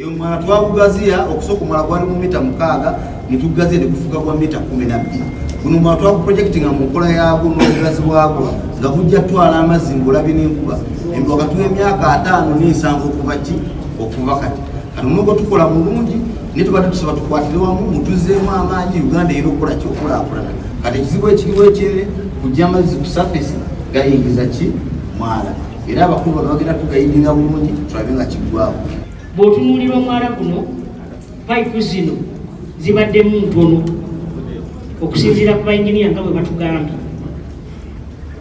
eyo mwana twagugaziya okusooka omwana gwali mu mita mukaaga netugugaziya negufuka gwa mita kumi nabbiri guno mwana twaguprojekiti nga mu nkola yagwo n'obugazi bwagwo nga gujja twala amazzi ngaolabye n'enkuba wakati w'emyaka ataano n'ensanvu okuva ki okuva kati kati nubwo tukola mulungi naye tubadde tusaba tukwatire wamu mutuzeemu amaanyi uganda era okukola kyokulakulana kati ekizibu ekiriwo ekyere kujja amazzi ku safesi gayingiza ki mwala era abakulu bano bagenda tugayidinga bulungi tulabe nga kiggwawo bw'otunuulira omwala guno payipu zino zibaddemu ntono okusinziira ku bainginiya nga bwe batugambye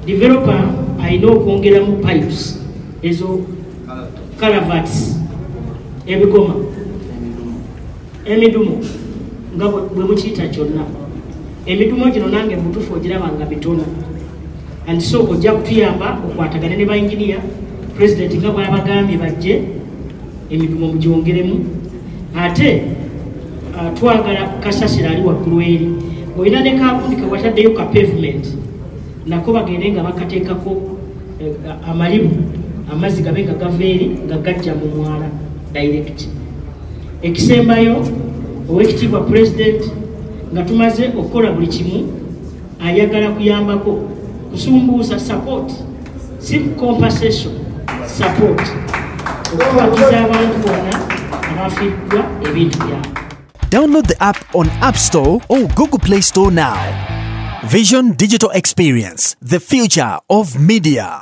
developa alina okwongeramu pipes ezo calavats ebigoma emidumu nga bwe mukiyita kyonna emidumu gino nange mutufu ogiraba nga mitono and so ojja kutuyamba okwatagane ne bainginiya pulezidenti nga bwabagambye bajje emidumu mugyongeremu ate uh, twagala kasasira ali waggulu eri olina ne kakundi kewataddeyo ka pavement nako bagende nga bakateekako eh, amalibu amazzi gabe nga gava eri nga gajja mu mwala direct ekisembayo owekitiibwa pulezidenti nga tumaze okukola buli kimu ayagala kuyambako kusumbuusa support si compensation support okubakiza abantu bona abafiddwa ebintu byabo download the app on app store or google play store now vision digital experience the future of media